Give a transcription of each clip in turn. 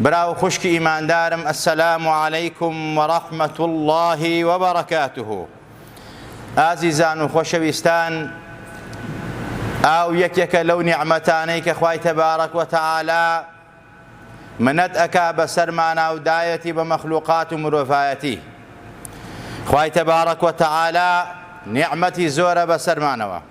برا و خوشکی ئیماندارم السلام علیکم و رحمت الله و برکاته ئازیزان و خۆشەویستان ئاو یەکێکە لەو نیعمەتانەی کە خوای تەبارەک و تەعالا منەت ئەکا بەسەر مانا و دایەتی بە مەخلوقات و مرۆڤایەتی خوای تەبارەک و تەعالا نیعمەتی زۆرە بەسەرمانەوە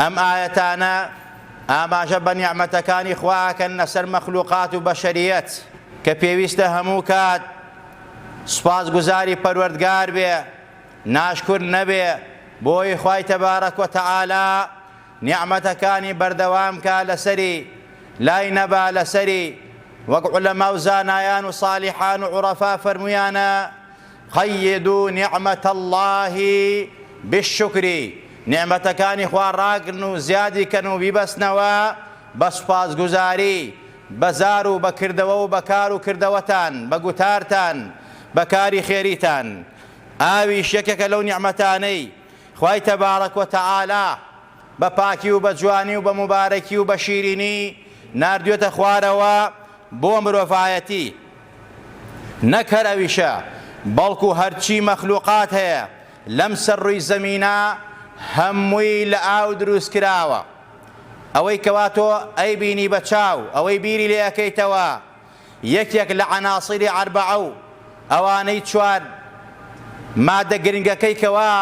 ئەم ئایەتانە ئاماژە بە نیعمەتەکانی خوا ئەکەن لەسەر مەخلوقات و بەشەریەت کە پێویستە هەموو کات سوپاسگوزاری پەروەردگار بێ ناشکور نەبێ بۆی خوای تەبارەک و تەعالا نیعمەتەکانی بەردەوام کا لەسەری لای نەبا لەسەری وەک عولەما و زانایان و صالیحان و عورەفا فەرمویانە قیدو نعمت اللە بالشکر، نیعمەتەکانی خوا ڕاگرن و زیادی کەن و بیبەستنەوە بە سوپاسگوزاری، بە زار و بە کردەوە و بە کار و کردەوەتان، بە گوتارتان، بە کاری خێریتان. ئاویش یەکێکە لەو نیعمەتانەی خوای تبارک و تعالی بە پاکی و بە جوانی و بە موبارەکی و بە شیرینی ناردوێتە خوارەوە بۆ مرۆڤایەتی. نەک هەر ئەویشە بەڵکو هەرچی مەخلوقات هەیە لەم سەر ڕووی زەمینە هەمووی لە ئاو دروست کراوە ئەوەی کەوا تۆ ئەی بینی بە چاو ئەوەی بیری لێ ئەکەیتەوە یەکێک لە عناصری اربعە و ئەوانەی چوار مادە گرنگەکەی کەوا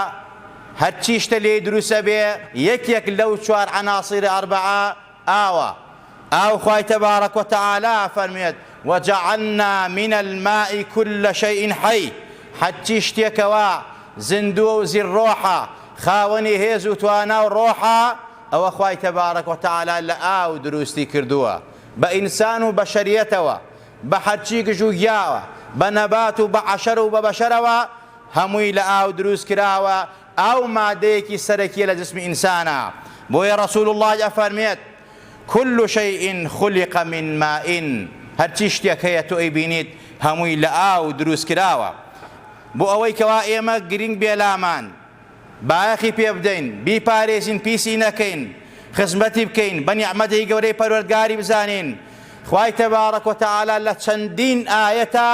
هەرچی شتە لێی دروست ئەبێ یەکێک لەو چوار عناصری اربعە ئاوە، ئاو خوای تبارک و تعالی ئەفەرموێت، وجعلنا من الماء کل شیء حی، حەرچی شتێکەوە زیندووە و زیر ڕۆحە، خاوەنی هێز و توانا و ڕۆحە، ئەوە خوای تبارک و تعالی لە ئاو دروستی کردووە، بە ئینسان و بەشەریەتەوە، بە حەرچی گژ و گیاوە، بە نەبات و بە عەشەر و بە بەشەرەوە، هەمووی لە ئاو دروست کراوە، ئاو مادەیەکی سەرەکیە لە جسمی ئینسانا بۆیە رسول اللە ئەفەرمێت، کل شیء خلق من ماء هەرچی شتێک هەیە تۆ ئەیبینیت هەمووی لە ئاو دروست کراوە بۆ ئەوەی کەوا ئێمە گرینگ بێ لامان بایەخی پێ بدەین بیپارێزین پیسی نەکەین خزمەتی بکەین بە نیعمەتی گەورەی پەروەردگاری بزانین خوای تبارک و تعالی لە چەندین ئایەتا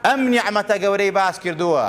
ئەم نیعمەتە گەورەی باس کردووە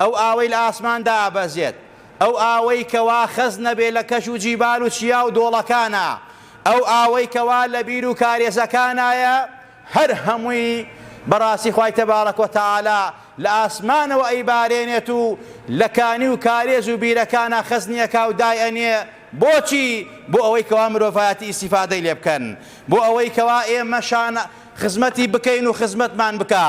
ئەو ئاوەی لە ئاسمان دابەزێت، ئەو ئاوەی کەوا خەزنە بێ لە کەش و جیبال و چیا و دۆڵەکانا، ئەو ئاوەی کەوا لە بیر و کارێزەکانایە، هەر هەمووی بە ڕاستی خوای تبارک و تعالی لە ئاسمانەوە ئەیبارێنێت و لە کانی و کارێز و بیرەکانا خەزنی ئەکا و دای ئەنێ، بۆچی؟ بۆ ئەوەی کەوا مرۆڤایەتی ئیستیفادەی لێ بکەن، بۆ ئەوەی کەوا ئێمەشان خزمەتی بکەین و خزمەتمان بکا.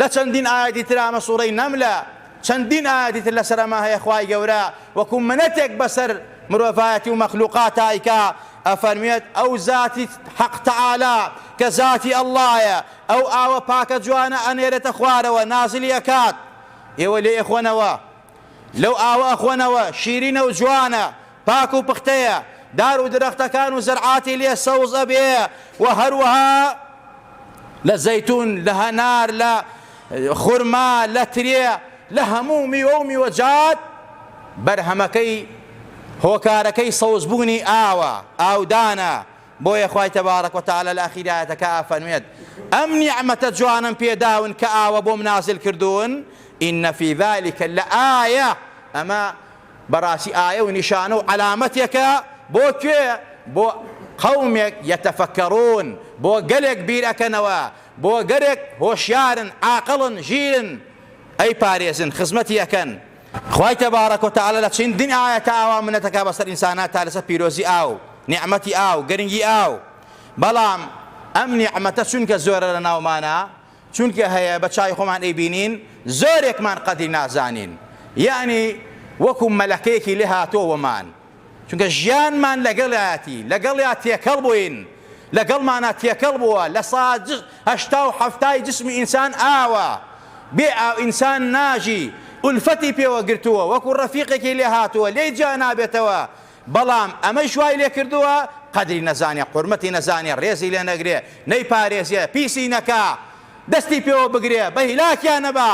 لە چەندین ئایەتی ترا مە سورەی نەملە چەندین ئایەتی تر لەسەر ئەمە هەیە خوای گەورە وەکو منەتێک بەسەر مرۆڤایەتی و مەخلوقاتا ئیکا ئەفەرموێت ئەو زاتی حەق تەعالا کە زاتی اللە یە ئەو ئاوە پاکە جوانە ئەنێرێتە خوارەوە نازلی ئەکات ئێوە لێی ئەخۆنەوە لەو ئاوە ئەخۆنەوە شیرینە و جوانە پاک و پختەیە، دار و درەختەکان و زەرعاتی لێ سەوز ئەبێ و هەروەها لە زەیتون، لە هەنار، لە خورما، لە ترێ، لە هەموو میوە و میوەجات بەرهەمەکەی هۆکارەکەی سەوزبوونی ئاوە، ئاودانە، بۆیە خوای تبارک و تعالی لە ئاخیری ئایەتەکە ئەفەرموێت، ئەم نیعمەتە جوانەم پێ داون کە ئاوە بۆم نازل کردوون، ان فی ذلک لآیە، ئەمە بەڕاستی ئایە و نیشانە و عەلامەتێکە بۆ کوێ؟ بۆ قومێک یەتەفەکەڕوون، بۆ گەلێک بیر ئەکەنەوە، بۆ گەلێک هۆشیارن، عاقڵن، ژیرن، ئەی پارێزن، خزمەتی ئەکەن. خوای تبارک و تعالی لە چندین ئایەتا ئاوا منەت ئەکا بەسەر ئینسانا تا لەسەر پیرۆزی ئاو، نیعمەتی ئاو، گرنگی ئاو. بەڵام ئەم نیعمەتە چونکە زۆرە لەناومانا، چونکە هەیە بە چاوی خۆمان ئەیبینین زۆرێکمان قەدری نازانین یەعنی وەکو مەلەکەیەکی لێ هاتۆوەمان چونکە ژیانمان لەگەڵیاتی لەگەڵیا تێکەڵ بووین لەگەڵمانە تێکەڵ بووە لە ساج هەشتا و حەفتای جسمی ئینسان ئاوە بێ ئاو ئینسان ناژی ئولفەتی پێوە گرتووە وەکو ڕەفیقێکی لێ هاتووە لێی جیا نابێتەوە بەڵام ئەمەیش وای لێکردووە قەدری نەزانێ، قورمەتی نەزانێ، ڕێزی لێ نەگرێ، نەیپارێزێ، پیسی نەکا، دەستی پێوە بگرێ، بە هیلاکیا نەبا،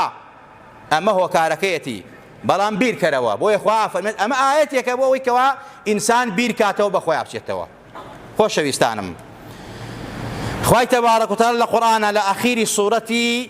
ئەمە هۆکارەکەیەتی، بەڵام بیرکەرەوە، بۆیە خوا ئەفەرمێت، ئەمە ئایەتێکە بۆ ئەوەی کەوا ئینسان بیرکاتەوە بە خۆیا بچێتەوە. خۆشەویستانم خوای تەبارەک و تەعالا لە قورئانا لە ئاخیری سورەتی،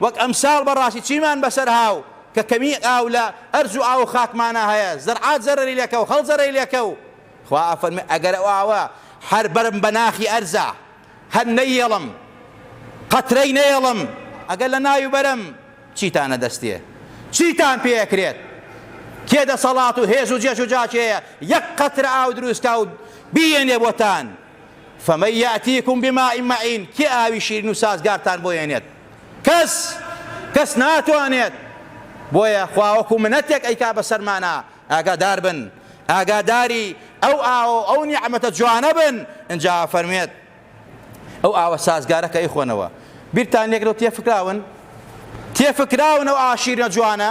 وەک ئەمساڵ بەڕاستی چیمان بەسەر ها و کە کەمی ئاو لە ئەرز و ئاو و خاکمانا هەیە زەرعات زەرەری لەکەو خەڵک زەرەری لەکەو خوا ئەفەرموێ ئەگەر ئەو ئاوە هەر بەرم بە ناخی ئەرزا هەر نەیەڵم قەترەی نەیەڵم ئەگەر لە ناوی بەرم چیتان ئەدەستێ چیتان پێ ئەکرێت کێ دەسەڵات و هێز و جێژ و جاکێیە یەک قەترە ئاو دروست کا و بیێنێ بۆتان فمن یاتیکم بماء معین کێ ئاوی شیرین و سازگارتان بۆ هێنێت کەس کەس ناتوانێت بۆیە خوا وەکو منەتێک ئەیکا بەسەرمانا ئاگادار بن ئاگاداری ئەو ئاو ئەو نیعمەتە جوانە بن ئنجا فەرمێت ئەو ئاوە سازگارە کە ئەیخۆنەوە بیرتان لێکرێت تێفکراون تێفکراون ئەو ئاشیرە جوانە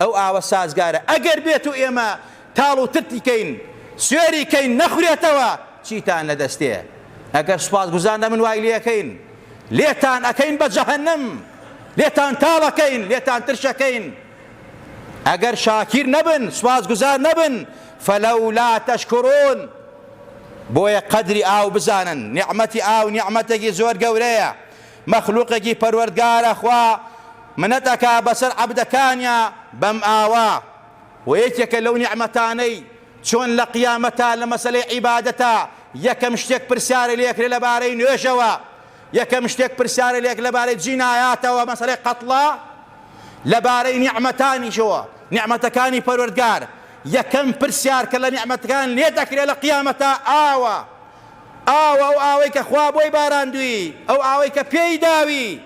ئەو ئاوە سازگارە ئەگەر بێت و ئێمە تاڵ و ترتی کەین سوێری کەین نەخورێتەوە چیتان لە دەستێ ئەگەر سوپاسگوزار نەبن وای لێکەین لێتان ئەکەین بە جەهەنم لێتان تاڵەکەین لێتان ترشەکەین ئەگەر شاکیر نەبن سوپاسگوزار نەبن فەلەولا تەشکرون بۆیە قەدری ئاو بزانن نیعمەتی ئاو نیعمەتێکی زۆر گەورەیە مەخلوقێکی پەروەردگارە خوا منەت ئەکا بەسەر عەبدەکانیا بەم ئاوە وە یەکێکە لەو نیعمەتانەی چۆن لە قیامەتا لە مەسەلەی عیبادەتا یەکەم شتێک پرسیارە لێ ئەکرێ لەبارەی نوێژەوە یەکەم شتێک پرسیارە لێ ئەکرێ لەبارەی جینایاتەوە مەسەلەی قەتڵە لەبارەی نیعمەتانیشەوە نیعمەتەکانی پەروەردگار یەکەم پرسیار کە لە نیعمەتەکان لێت ئەکرێ لە قیامەتا ئاوە ئاو، ئەو ئاوەی کە خوا بۆی باراندووی، ئەو ئاوەی کە پێی داوی،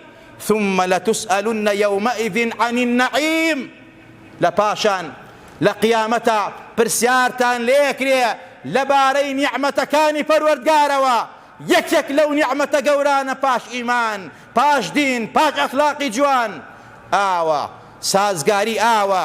ثم لتسئلن یومئذ عن النعیم، لە پاشان لە قیامەتا پرسیارتان لێکرێ لە بارەی نیعمەتەکانی پەروەردگارەوە، یەک یەک لەو نیعمەتە گەورانە پاش ئیمان، پاش دین، پاش ئەخلاقی جوان، ئاوە، سازگاری ئاوە،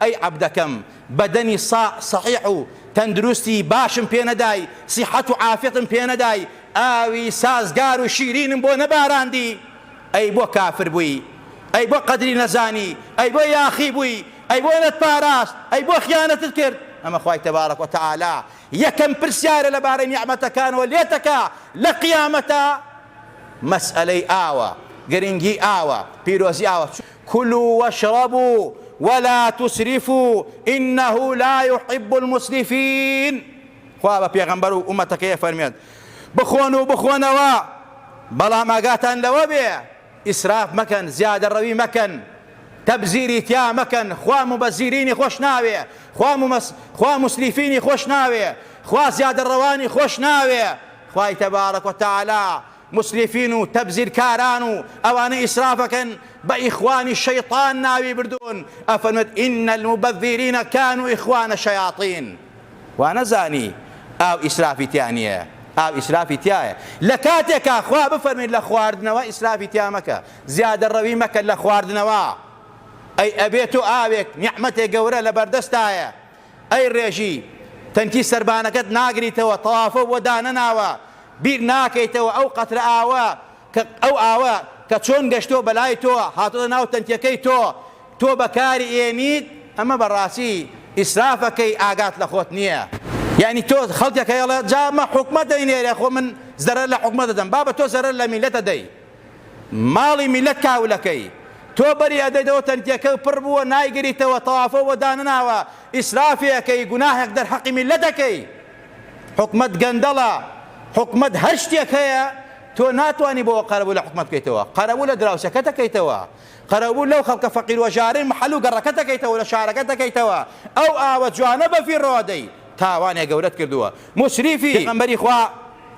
ئەی عەبدەکەم بەدەنی ساع سەحیح و تەندروستی باشم پێ نەدای سیحەت و عافیەتم پێ نەدای ئاوی سازگار و شیرینم بۆ نەباراندی ئەی بۆ کافر بووی ئەی بۆ قەدری نەزانی ئەی بۆ یاخی بووی ئەی بۆ نەتپاراست ئەی بۆ خیانەتت کرد ئەمە خوای تبارک و تعالی یەکەم پرسیارە لەبارەی نیعمەتەکانەوە لێتەکا لەقیامەتا مەسئەلەی ئاوە گرنگی ئاوە پیرۆزی ئاوە کلو واشربو ولا تسرفو انه لا یحب المسرفین خوا بە پێغەمبەر و ئومەتەکەی ئەفەرموێت بخۆن و بخۆنەوە بەڵام ئاگاتان لەوە بێ ئیسراف مەکەن زیادەڕەوی مەکەن تەبزیری تیا مەکەن خوا موبەزیرینی خۆش ناوێ خوا ممس خوا مسریفینی خۆش ناوێ خوا زیادەڕەوانی خۆش ناوێ خوای تبارک و تعالی مسرفین و تەبزیرکاران و ئەوانەی ئیسرافەکەن بە ئیخوانی شەیتان ناوی بردوون ئەفەرموێت ان المبذرین کانو اخوان شیاطین وانەزانی ئاو ئیسرافی تیا نییە ئاو ئیسرافی تیایە لەکاتێکا خوا بفەرموێت لە خواردنەوە ئیسرافی تیا مەکە زیادە ڕەوی مەکە لە خواردنەوە ئەی ئەبێت تۆ ئاوێک نیعمەتێ گەورە لەبەردەستایە ئەی ڕێژی تەنکی سەربانەکەت ناگریتەوە تەوافۆ بۆ دانەناوە بیر ناکەیتەوە ئەو قەترە ئاوە کە ئەو ئاوە کە چۆن گەشتۆ بەلای تۆ هاتۆتە ناو تەنکیەکەی تۆ تۆ بەکاری ئێنیت ئەمە بەڕاستی ئیسرافەکەی ئاگات لە خۆت نیە یانی تۆ خەڵکەکەی ئەڵێ جا مە حکومەت دەینێرێ خۆ من زەرەر لە حکومەت دەدەم بابە تۆ زەرەر لە میلەتە دەی ماڵی میلەت کاولەکەی تۆ بەری ئەدەیتەوە تەنکیەکەو پڕ بووە نایگریتەوە تەوافۆ بۆ دانەناوە ئیسرافی ئەکەی گوناهێک دەر حەقی میلەت ئەکەی حکومەت گەندەڵە حکومەت هەر شتێک هەیە تۆ ناتوانی بۆ قەرەبوو لە حکومەت بکەیتەوە قەرەبوو لە دراوسێکەت ئەکەیتەوە قەرەبوو لەو خەڵکە فەقیر و ژارەی محەل و گەڕەکەت ئەکەیتەوە لە شارەکەت ئەکەیتەوە ئەو ئاوە جوانە بەفیڕۆ ئەدەی تاوانێ گەورەت کردووە موسریفی پێغەمبەری خوا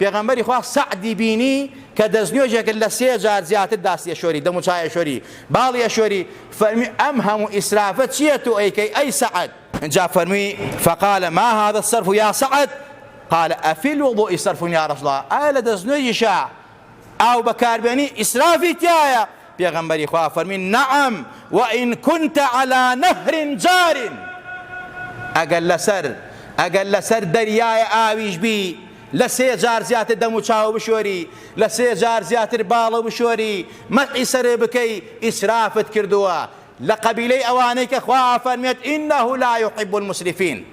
پێغەمبەری خوا سەعدی بینی کە دەستنوێژێک کرد لە سێ جار زیاتر داستی ئەشۆری، دەموچاوی ئەشۆری، باڵی ئەشۆری، فەرمی، ئەم هەموو ئیسرافە چییە تۆ ئەیکەی ئەی سەعد؟ ئینجا فەرمی، فقال ما هذا الصرف یا سعد؟ قال افی الوضوء صرف یا رسول اللە، ئایا لە دەستنوێژیشا ئاو بەکاربێنی ئیسرافی تیایە؟ پێغەمبەری خوا فەرمی، نعم و ان کنت علی نهر جار، ئەگەر لەسەر ئەگەر لەسەر دەریای ئاویش بی لە سێ جار زیاتر دەموچاو بشۆری، لە سێ جار زیاتر باڵو بشۆری، مەسحی سەرت بکەی، ئیسرافت کردووە، لە قەبیلەی ئەوانەی کە خوا ئەفەرموێت، انه لا یحب المسرفین.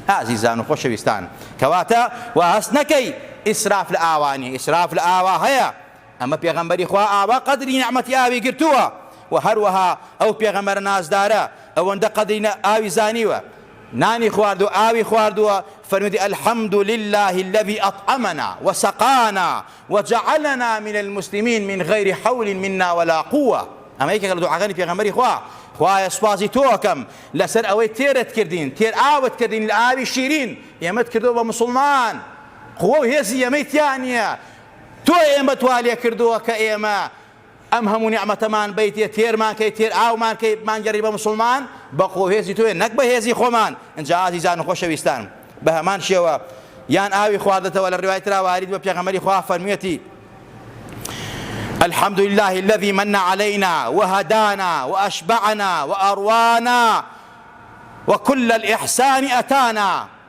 ئازیزان و خۆشەویستان، کەواتە وا هەست نەکەی ئیسراف لە ئاوا نیە، ئیسراف لە ئاوا هەیە، ئەمە پێغەمبەری خوا ئاوا قەدری نیعمەتی ئاوی گرتووە و هەروەها ئەو پێغەمبەرە نازدارە ئەوەندە قەدری ئاوی زانیوە نانی خوارد و ئاوی خواردووە فەرموویەتی الحمد للە الذی اطعمنا وسقانا وجعلنا من المسلمین من غیر حول منا ولا قوة ئەمە یەکێکە لە دوعاکانی پێغەمبەری خوا خوایە سوپاسی تۆکەم لەسەر ئەوەی تێرت کردین تێر ئاوت کردین لە ئاوی شیرین ئێمەت کردەوە بە مسلمان قوە و هێزی ئێمەی تیا نییە تۆ ئێمەت وا لێ کردووە کە ئێمە ئەم هەموو نیعمەتەمان بەیتێ تێرمان کەی تێر ئاومان کەی بمانگێڕی بە موسڵمان بە قوە و هێزی تۆیە نەک بە هێزی خۆمان ئینجا ئازیزان و خۆشەویستان بە هەمان شێوە یان ئاوی خواردتەوە لە ڕوای ترا وارد بە پێغەمبەری خوا فەرموویەتی الحمد لله الذي من علينا وهدانا وأشبعنا وأروانا وكل الإحسان أتانا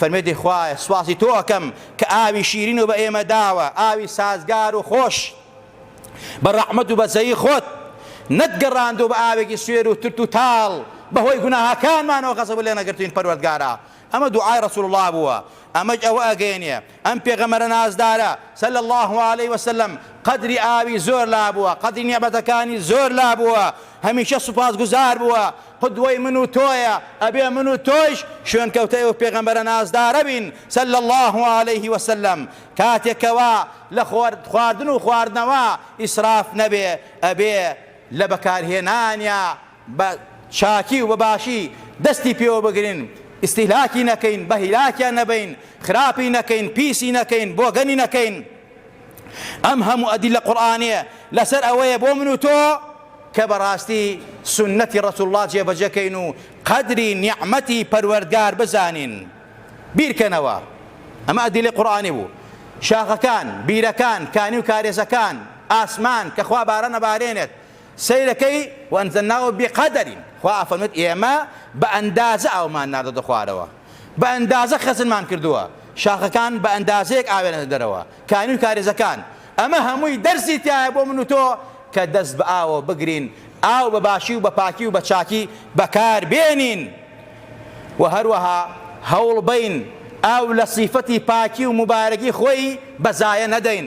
فەرمێدی خوایە سوپاسی تۆ ئەکەم کە ئاوی شیرین و بە ئێمە داوە، ئاوی سازگار و خۆش بە ڕەحمەت و بەزەیی خۆت، نەت گەڕاندووە بە ئاوێکی سوێر و ترت و تاڵ، بەهۆی گوناهەکانمانەوە غەزەبت لێ نەگرتووین پەروەردگارا. ئەمە دوعای ڕەسوڵ اللە بووە، ئەمەش ئەوە ئەگەیەنێ ئەم پێغەمبەرە نازدارە صلی اللە علیە وسلم قەدری ئاوی زۆر لابووە، قەدری نیعمەتەکانی زۆر لابووە، هەمیشە سوپاسگوزار بووە، قدوەی من و تۆیە، ئەبێ من و تۆیش شوێنکەوتەی ئەو پێغەمبەرە نازدارە بین صلی اللە علیە وسلم، کاتێک کەوا لە خواردن و خواردنەوە ئیسراف نەبێ، ئەبێ لە بەکارهێنانیا بە چاکی و بە باشی دەستی پێوە بگرین، ئیستیهلاکی نەکەین، بە هیلاکیا نەبەین، خراپی نەکەین، پیسی نەکەین، بۆگەنی نەکەین. ئەم هەموو ئەدیلە قورئانیە لەسەر ئەوەیە بۆ من و تۆ کە بەڕاستی سوننەتی ڕەسول اللە جێبەجێ کەین و قەدری نیعمەتی پەروەردگار بزانین بیرکەنەوە ئەمە ئەدیلە قورئانی بوو شاخەکان بیرەکان کانی و کارێزەکان ئاسمان کە خوا باران ئەبارێنێت سەیرەکەی، وانزلناه بقدر، خوا ئەفەرموێت ئێمە بە ئەندازە ئاومان ناردۆتە خوارەوە، بە ئەندازە خەزنمان کردووە، شاخەکان بە ئەندازەیەک ئاوێنەتە دەرەوە، کانی و کارێزەکان، ئەمە هەمووی دەرسی تیایە بۆ من و تۆ کە دەست بە ئاوەوە بگرین، ئاو بە باشی و بە پاکی و بە چاکی بەکار بێنین و هەروەها هەوڵبەین ئاو لە سیفەتی پاکی و موبارەکی خۆی بە زایە نەدەین.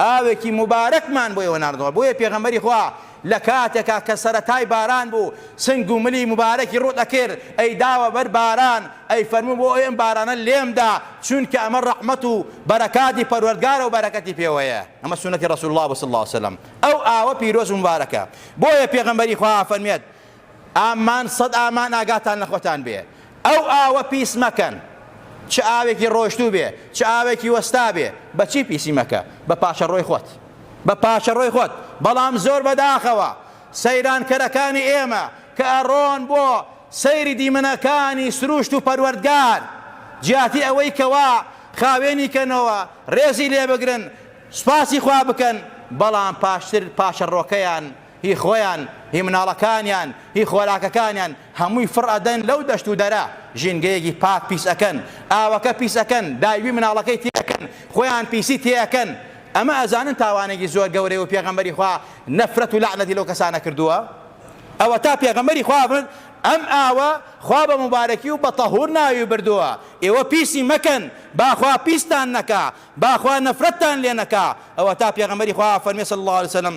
ئاوێکی موبارەکمان بۆ ئێوە ناردووە، بۆیە پێغەمبەری خوا لە کاتێکا کە سەرەتای باران بوو سنگ و ملی موبارەکی ڕووت ئەکرد ئەیداوە بەر باران ئەیفەرموو بۆ ئەوی ئەم بارانە لێمدا چوونکە ئەمە ڕەحمەت و بەرەکاتی پەروەردگارە و بەرەکەتی پێوەیە ئەمە سوننەتی ڕەسول اللە بوو صلی اللە وسلم ئەو ئاوە پیرۆز و موبارەکە بۆیە پێغەمبەری خوا ئەفەرموێت ئامان سەد ئامان ئاگاتان لە خۆتان بێ ئەو ئاوە پیس مەکەن چ ئاوێکی ڕۆشتوو بێ چ ئاوێکی وەستا بێ بەچی پیسی مەکە بە پاچەڕۆی خۆت بە پاچەڕۆی خۆت بەڵام زۆر بەداخەوە سەیرانکەرەکانی ئێمە کە ئەڕۆن بۆ سەیری دیمەنەکانی سروشت و پەروەردگار جیاتی ئەوەی کەوا خاوێنی کەنەوە ڕێزی لێ بگرن سوپاسی خوا بکەن بەڵام پاشتر پاچەڕۆکەیان هی خۆیان، هی مناڵەکانیان، هی خۆراکەکانیان، هەمووی فڕ ئەدەن لەو دەشت و دەرە، ژینگەیەکی پاک پیس ئەکەن، ئاوەکە پیس ئەکەن، داوی مناڵەکەی تێ ئەکەن، خۆیان پیسی تێ ئەکەن، ئەمە ئەزانن تاوانێکی زۆر گەورەیە و پێغەمبەری خوا نەفرەت و لەعنەتی لەو کەسانە کردووە؟ ئەوەتا پێغەمبەری خوا فەرمووی، ئەم ئاوە خوا بە موبارەکی و بە تەهوور ناوی بردووە، ئێوە پیسی مەکەن، با خوا پیستان نەکا، با خوا نەفرەتتان لێ نەکا، ئەوەتا پێغەمبەری خوا فەرمووی، صلی اللە علیە وسلم،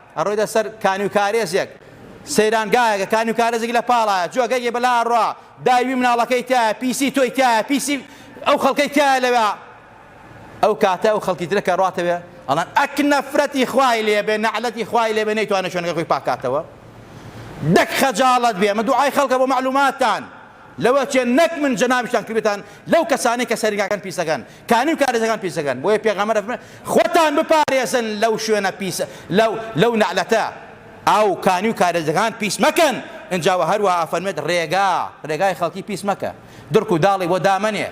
ئەڕۆیتە سەر کانیوکارێزێک، سەیرانگایەکە، کانیوکارێزێکی لە پاڵایە، جۆگەیەکی بەلا ئەڕوا، دای وی مناڵەکەی تیایە، پیسی تۆی تیایە، پیسی ئەو خەڵکەی تیایە لەوێ. ئەو کاتە ئەو خەڵکی ترە کە ئەڕاتەوێ، ئەڵێن، ئەک نەفرەتی خوای لێ بێ، نەعلەتی خوای لێ بێ، نەیتوانێ شوێنەکەی خۆی پاک کاتەوە! دەک خەجاڵەت بێ! ئەمە دوعای خەڵکە بۆ مەعلووماتتان. لەوە چێن نەک من جەنابیشتان کردبێتان لەو کەسانەی کە سەرنگاکان پیسەکەن کانی و کارێزەکان پیسەکەن بۆیە پێغەمبەر ئەفەرموێت خوتان بپارێزن لەو شوێنە پیسە لەو لەو نەعلەتە ئاو کانی و کارێزەکان پیس مەکەن ئنجا وە هەروەها ئەفەرموێت ڕێگا ڕێگای خەڵکی پیس مەکە درک و داڵی بۆ دامەنێ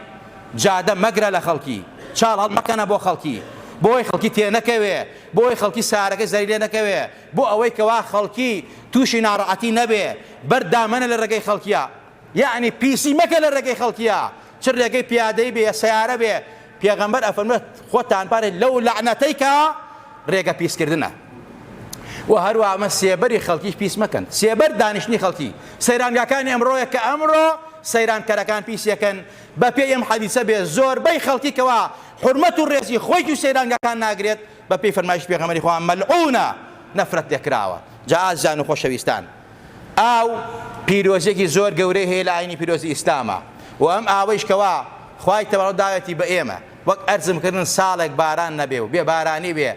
جادە مەگرە لە خەڵکی چاڵ هەڵمەکەنە بۆ خەڵکی بۆی خەڵکی تێ نەکەوێ بۆی خەڵکی سارەکەی زەری لێ نەکەوێ بۆ ئەوەی کەوا خەڵکی توشی ناڕەعەتی نەبێ بەرد دامەنە لە رێگەی خەڵکیا یەعنی پیسی مەکە لە رێگەی خەڵکیا چ رێگەی پیادەی بێ سەیارە بێ پێغەمبەر ئەفەرموێت خۆتان پارێ لەو لەعنەتەی کە رێگە پیس کردنە و هەروا ئەمە سێبەری خەڵکیش پیس مەکەن سێبەر دانیشتنی خەڵکی سەیرانگاکانی ئەمڕۆیە کە ئەمڕۆ سەیرانکەرەکان پیسەکەن بە پێی ئەم حەدیسە بێ زۆربەی خەڵکی کەوا حرمەت و رێزی خۆی و سەیرانگاکان ناگرێت بەپێی فەرمایشی پێغەمبەری خوا مەلعونە، نەفرەت لێکراوە. جا ئازیزان و خۆشەویستان ئاو پیرۆزیەکی زۆر گەورەی هەیە لە ئاینی پیرۆزی ئیسلاما و ئەم ئاوەیش کەوا خوای تەواو داوێتی بە ئێمە وەک ئەرزم کردن ساڵێک باران نەبێ و بێ بارانی بێ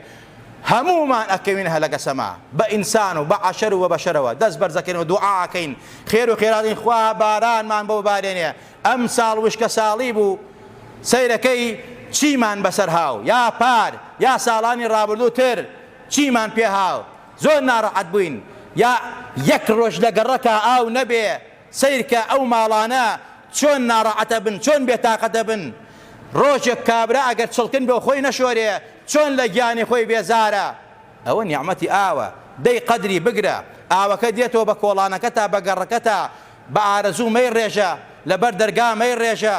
هەموومان ئەکەوین هەلەکە سەما بە ئینسان و بە عەشەر و بە بەشەرەوە دەست بەرزەکەین و دوعا ئەکەین خێر و خێراتین خوا بارانمان بۆ ببارێنێ ئەمساڵ وشکەساڵی بوو سەیرەکەی چیمان بەسەر هاو یا پار یا ساڵانی ڕابردوو تر چیمان پێ هاو زۆر ناڕەحەت بووین یا یەک ڕۆژ لە گەڕەکا ئاو نەبێ سەیرکە ئەو ماڵانە چۆن ناڕەعەتەبن چۆن بێ تاقەتەبن ڕۆژێک کابرا ئەگەر چڵکن بۆ خۆی نەشۆرێ چۆن لە گیانی خۆی بێزارە ئەوە نیعمەتی ئاوە دەی قەدری بگرە ئاوەکە دێتەوە بە کۆڵانەکەتا بە گەڕەکەتا بە ئارەزوو مەی ڕێژە لە بەر دەرگا مەی ڕێژە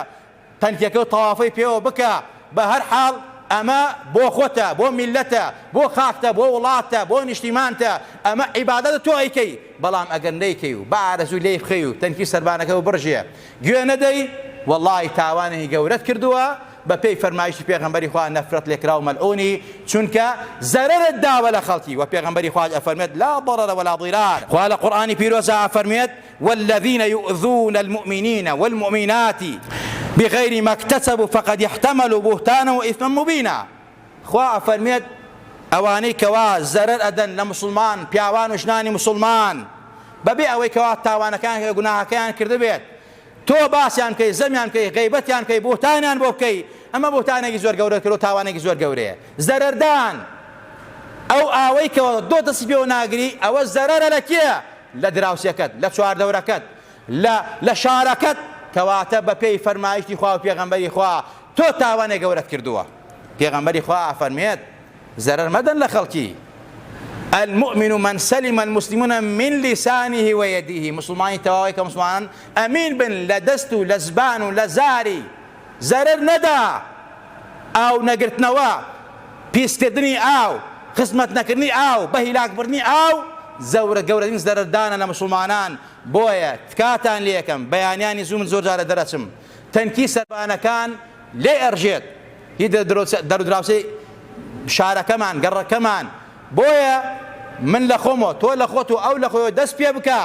تەنکیەکەو تەوافی پێوە بکە بە هەر حاڵ ئەمە بۆ خۆتە بۆ میلەتە بۆ خاکتە بۆ وڵاتتە بۆ نیشتیمانتە ئەمە عیبادەتە تۆ ئەیکەی بەڵام ئەگەر نەیکەی و بە ئارەزووی لێی بخەی و تەنکی سەربانەکەو بڕژێ گوێ نەدەی وەڵاهی تاوانێکی گەورەت کردووە بە پێی فەرمایشی پێغەمبەری خوا نەفرەت لێکراو مەلعونی چونکە زەرەرت داوە لە خەڵکی وە پێغەمبەری خواش ئەفەرموێت لا ضرر ولا ضرار خوا لە قورئانی پیرۆزا ئەفەرموێت والذین یؤذون المؤمنین والمؤمنات بغیر ما اکتسبوا فقد احتملوا بهتانا واثما مبینا خوا ئەفەرموێت ئەوانەی کەوا زەرەر ئەدەن لە مسلمان پیاوان و ژنانی مسلمان بەبێ ئەوەی کەوا تاوانەکان گوناهەکەیان کردبێت تۆ باسیان بکەی زەمیان بکەی غەیبەتیان بکەی بوهتانیان بۆ بکەی ئەمە بوهتانێکی زۆر گەورەت کردوە تاوانێکی زۆر گەورەیە زەرەردان ئەو ئاوەی کە دۆ دەسی پێوە ناگری ئەوە زەرەرە لە کێ لە دراوسێکەت لە چواردەورەکەت لە لە شارەکەت کەواتە بە پێی فەرمایشتی خوا و پێغەمبەری خوا تۆ تاوانێک گەورەت کردووە پێغەمبەری خوا ئەفەرمێت زەرەر مەدەن لە خەڵکی. المومن من سلم المسلمون من لسانه و یده موسڵمانی تەواو ئەوەیە کە موسڵمانان ئەمین بن لە دەست و لە زبان و لە زاری زەرەر نەدا ئاو نەگرتنەوە پیسکردنی ئاو خزمەت نەکردنی ئاو بە هیلاک بردنی ئاو زەورە گەورەترین زەرەردانە لە موسڵمانان بۆیە تکاتان لێ ئەکەم بەیانیانی زوو من زۆر جارە دەرئەچم تەنکی سەربانەکان لێ ئەرژێت هی دەرودراوسێی شارەکەمان گەڕەکەمان بۆیە من لە خۆمەوە تۆ لە خۆت و ئەو لە خۆیەوە دەست پێ بکا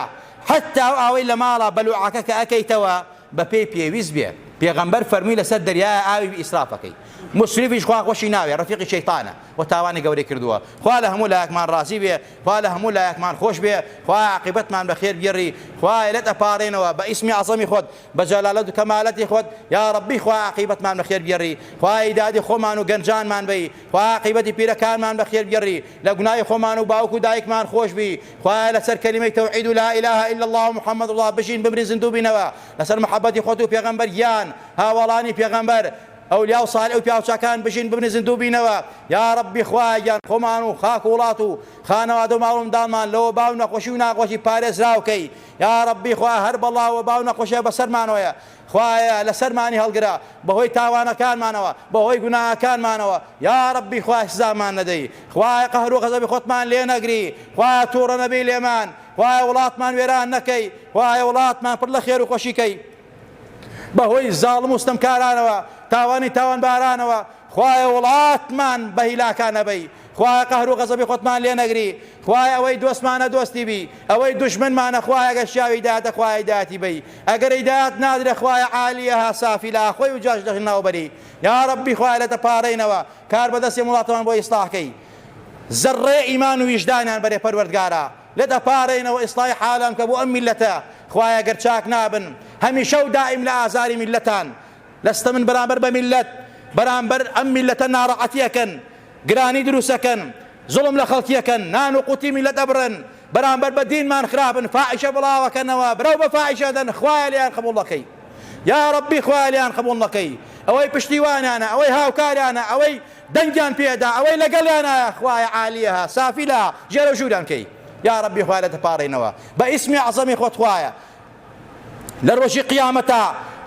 حەتا ئەو ئاوەی لە ماڵە بەلوعەکە کە ئەکەیتەوە بە پێی پێویست بێ پێغەمبەر فەرمی لەسەر دەریایە ئاوی ئیسرافەکەی مسرفیش خوا خۆشی ناوێ ڕەفیقی شەیتانە و تاوانی گەورەی کردووە خوا لە هەموو لایەکمان ڕازی بێ خوا لە هەموو لایەکمان خۆش بێ خوا عاقبەتمان بەخێر بگێڕی خوایە لێت ئەپاڕێنەوە بە ئیسمی عەزەمی خۆت بە جەلالەت و کەمالەتی خۆت یاڕەبی خوا عاقیبەتمان بە خێر بگێڕی خوا ئیدادی خۆمان و گەنجانمان بەی خوا عاقیبەتی پیرەکانمان بە خێر بگێڕی لە گوناهی خۆمان و باوک و دایکمان خۆش بی خوایە لەسەر کەلیمەی تەوحید و لا اله الا الله و محمد الله بژین بمرین زیندوو بینەوە لەسەر محەبەتی خۆت و پێغەمبەر گیان هاوەڵانی پێغەمبەر ئەولیا و سالیح و پیاوچاکان بژین بمرین زیندوو بینەوە یاڕەبی خوایە گیان خۆمان و خاک و وڵات و خانەوادە و ماڵ و منداڵمان لە وەبا و نەخۆشی و ناغۆشی پارێزراو کەی یاڕەبی خوا هەر بەڵا و باو نەخۆشیە بەسەرمانۆیە خوایە لەسەرمانی هەڵگرە بەهۆی تاوانەکانمانەوە بەهۆی گوناهەکانمانەوە یاڕەبی خوایە سزامان نەدەی خوایە قەهرو غەزەبی خۆتمان لێ نەگری خوایە توڕە نەبی لێمان خوایە وڵاتمان وێران نەکەی خوایە وڵاتمان پڕ لە خێرو خۆشی کەی بەهۆی زاڵم و ستەمکارانەوە تاوانی تاوانبارانەوە خوایە وڵاتمان بەهیلاکا نەبەی خوایە قەهر و غەزەبی خۆتمان لێ نەگری خوایە ئەوەی دۆستمانە دۆستی بی ئەوەی دوشمنمانە خوایە گە شیاوی دایەتە خوایە دایەتی بی ئەگەری دایەت نادرە خوایە عالیەها سافی لە ئاخۆی و جاش دەخ ناوبەری یا ربی خوایە لە تەپارەینەوە کار بەدەستی وڵاتمان بۆ ئیسلاحکەی زەڕێ ئیمان و ویژدانیان بەرێ پەروەردگارا لە دەپارێنەوە ئیسڵاحی حالان بکە بۆ ئەم میللەتە خوایە گەر چاک نابن هەمیشە و دائیم لە ئازاری میللەتان لە ستەمن بەرامبەر بە میللەت بەرامبەر ئەم میللەتە ناڕەعەتی ئەکەن گرانی دروست ئەکەن زوڵم لە خەڵکی ئەکەن نان و قوتی میللەت ئەبڕن بەرامبەر بە دینمان خراپن فاحیشە بڵاو ئەکەنەوە برەو بە فاحیشە دەن خوایە لێیان قبوڵ نەکەی یا ربی خوایە لێیان قبوڵ نەکەی ئەوەی پشتیوانانە ئەوەی هاوکارانە ئەوەی دەنگیان پێ دا ئەوەی لەگەڵیانا خوایە عالیەها سافیلها ژێرەو ژووران کەی یاڕەبی خوایە لێت پاڕێنەوە بە ئیسمی عەزەمی خۆت خوایە لە ڕۆژی قیامەتا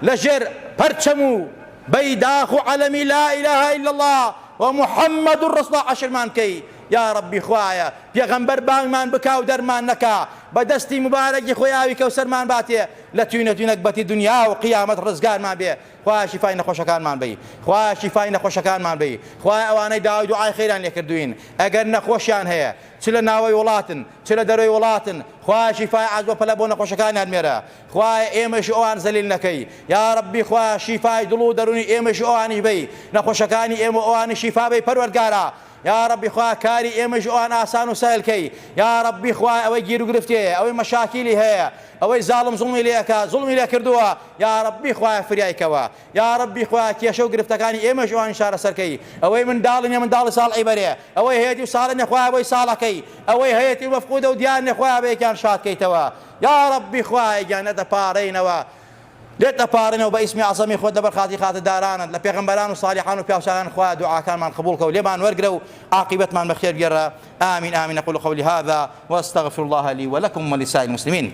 لە ژێر پەرچەم و بەی داخ و عەلەمی لا اله الا اللە و محمد الرسول عەشرمان کەی یاڕەبی خوایە پێغەمبەر بانگمان بکا و دەرمان نەکا بە دەستی مبارەکی خۆی ئاوی کەوسەرمان باتێ لە توینە توینەک بەتی دنیا و قیامەت ڕزگارمان بێ خوایە شیفای نەخۆشەکانمان بەی خوایە شیفای نەخۆشەکانمان بەی خوایە ئەوانەی داوای دوعای خێریان لێکردوین ئەگەر نەخۆشیان هەیە چ لە ناوەوەی وڵاتن چ لە دەرەوەی وڵاتن خوایە شیفای عەز بە پەلە بۆ نەخۆشەکانیان مێرە خوایە ئێمەیش و ئەوان زەلیل نەکەی یا ربی خوایە شیفای دڵ و دەرونی ئێمەیش و ئەوانیش بەی نەخۆشەکانی ئێمە و ئەوانیش شیفا بەی پەروەردگارا یاڕەبی خوا کاری ئێمەیش ئەوان ئاسان و سەهل کەی یاڕەبی خوایە ئەوەی گیرو گرفتێیە ئەوەی مەشاکیلی هەیە ئەوەی زاڵم زوڵمی لێ ئەکا زوڵمی لێ کردووە یاڕەبی خوایە فریای کەوە یاڕەبی خوایە کێشە و گرفتەکانی ئێمەیش ئەوانیش چارەسەر کەی ئەوەی منداڵی نیە منداڵی ساڵحی بەرێ ئەوەی هەیەتی و ساڵح نیە خوایە بۆی ساڵح کەی ئەوەی هەیەتی و مەفقودە و دیار نیە خوایە بەیەکیان شاد کەیتەوە یاڕەبی خوایە گیان نەدەپاڕێینەوە لێت ئەپارێنەوە بە ئیسمی عەزەمی خۆت لەبەر خاتری خاتر دارانت لە پێغەمبەران و سالیحان و پیاوچاکان خوایە دوعاکانمان قبوڵ کە و لێمان وەرگرە و عاقیبەتمان بە خێر گێڕە آمین آمین اقول قولی هذا واستغفر الله لی ولکم ولسائر المسلمین